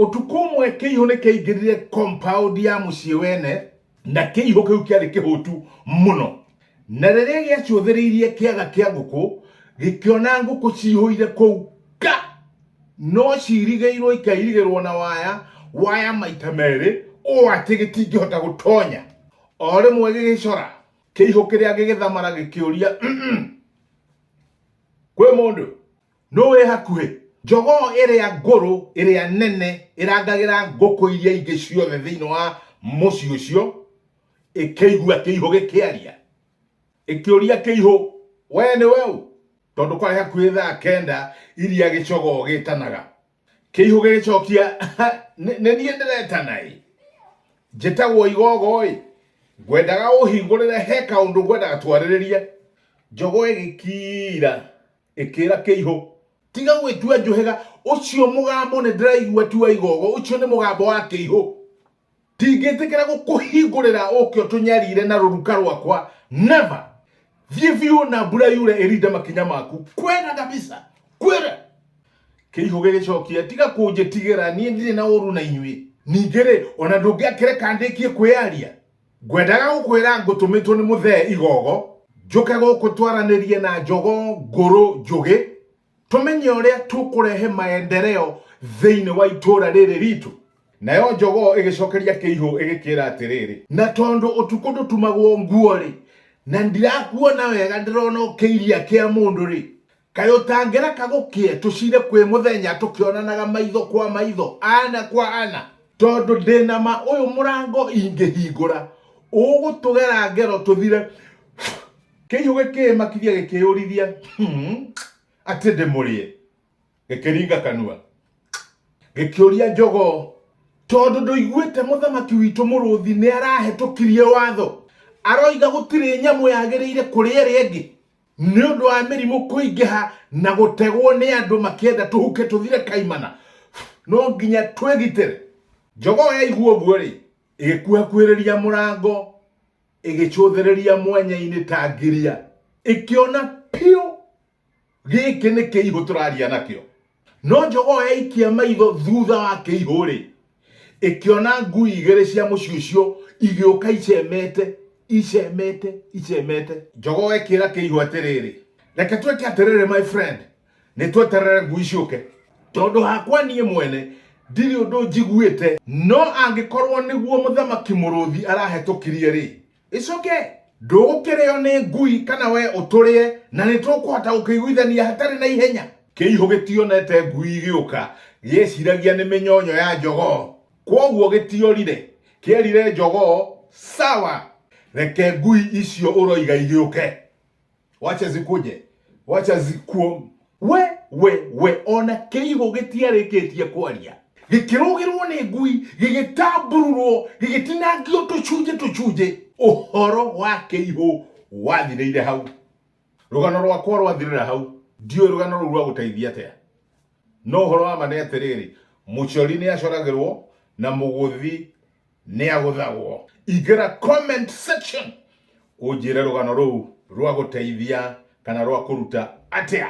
Ũtukũ ũmwe kĩihũ nĩ kĩaingĩrire compound ya mũciĩ wene na kĩihũ kĩu kĩarĩ kĩhũtu mũno na rĩrĩa gĩacũthĩrĩirie kĩaga kĩa ngũkũ gĩkĩona ngũkũ cihũire kũu ka no cirigĩirwo ikairigĩrwo na waya waya maita merĩ ũũ atĩ gĩtingĩhota gũtonya o rĩmwe gĩgĩcora kĩihũ kĩrĩa gĩgĩthamara gĩkĩũria "Mm-mm, kwĩ mũndũ nũ wĩ hakuhĩ njogoo ĩrĩa ngũrũ ĩrĩa nene ĩrangagĩra ngũkũ iria ingĩ ciothe thĩinĩ wa mũciĩ ũcio ĩkĩigua kĩihũ gĩkĩaria ĩkĩũria kĩihũ wee nĩ weũ tondũ kwarĩ hakuhĩ thaa kenda iria gĩcogoo gĩtanaga kĩihũ gĩgĩcokia nĩ nĩ niĩ ndĩretana ĩ njĩtagwo igogo ĩ ngwendaga ũhingũrĩre he kaũndũ ngwendaga twarĩrĩrie njogo ĩgĩkira Ĩkĩĩra kĩihũ, Tiga gwĩtua njũhĩga! Ũcio mũgambo nĩ ndĩraigua ti wa igogo, ũcio nĩ mũgambo wa kĩihũ. Ndingĩtĩkĩra gũkũhingũrĩra ũũke ũtũnyariire na rũruka rwakwa, never! Thiĩ biũ na mbura yure ĩrinde makinya maku, kwĩra kabisa! Kwĩra! Kĩihũ gĩgĩcokia, Tiga kũnjĩtigĩra, niĩ ndirĩ na ũũru na inyuĩ. Ningĩ-rĩ, o na ndũngĩakĩreka ndĩkie kwĩyaria? Ngwendaga gũkwĩra ngũtũmĩtwo nĩ mũthee igogo njũke gũkũ twaranĩrie na njogo ngũrũ njũgĩ tũmenye ũrĩa tũkũrehe maendereo thĩinĩ wa itũũra rĩrĩ ritũ nayo njogoo ĩgĩcokeria kĩihũ ĩgĩkĩra atĩrĩrĩ na tondũ ũtukũ ndũtumagwo nguo-rĩ na ndirakuona wega ndĩrona ũkĩiria kĩa mũndũ-rĩ Kaĩ ũtangĩreka gũkĩe tũcire kwĩ mũthenya tũkĩonanaga maitho kwa maitho, ana kwa ana? Tondũ ndĩ na ma ũyũ mũrango ingĩhingũra, ũgũtũgera ngero tũthire. Kĩihũ gĩkĩĩmakithia gĩkĩĩũrithia atĩ ndĩmũrĩe, gĩkĩringa kanua gĩkĩũria njogoo, Tondũ ndũiguĩte mũthamaki witũ mũrũthi nĩarahĩtũkirie watho, aroiga gũtirĩ nyamũ yagĩrĩire kũrĩa ĩrĩa ĩngĩ? Nĩ ũndũ wa mĩrimũ kũingĩha na gũtegwo nĩ andũ makĩenda tũhuke tũthire kaimana, no nginya twĩgitĩre. Njogoo yaigua ũguo-rĩ, ĩgĩkuhakuhĩrĩria mũrango, ĩgĩcũthĩrĩria mwanya-inĩ ta ngiria, ĩkĩona piũ gĩkĩ nĩ kĩihũ tũraria nakĩo. No njogoo yaikia maitho thutha wa kĩihũ-rĩ, ĩkĩona ngui igĩrĩ cia mũciũcio igĩũka icemete, icemete, icemete. Njogoo ĩkĩra kĩihũ atĩrĩrĩ, Reke twĩke atĩrĩrĩ my friend, nĩ tweterere ngui ciũke. Tondũ hakwa niĩ mwene ndirĩ ũndũ njiguĩte. No angĩkorwo nĩguo mũthamaki mũrũthi arahetũkirie-rĩ. ĩcoke ndũgũkĩrĩo nĩ ngui kana we ũtũrĩe na nĩ tũkũhota gũkĩiguithania hatarĩ na ihenya kĩihũ gĩtionete ngui igĩũka gĩeciragia nĩ mĩnyonyo ya njogoo kwoguo gĩtiorire kĩerire njogoo sawa reke ngui icio ũroiga igĩũke wacha zikuje wacha zikuo we we we ona kĩigũ gĩtiarĩkĩtie kwaria gĩkĩrũgĩrwo nĩ ngui gĩgĩtambururwo gĩgĩtinangio tũcunjĩ tũcunjĩ ũhoro wa kĩihũ wathirĩire hau rũgano rwakwa rwathirĩra hau ndiũĩ rũgano rũu rwagũteithia atĩa no ũhoro wa ma nĩ atĩrĩrĩ mũcori nĩ acoragĩrwo na mũgũthi nĩ agũthagwo ingĩra comment section ũnjĩre rũgano rũu rwa gũteithia kana rwa kũruta atĩa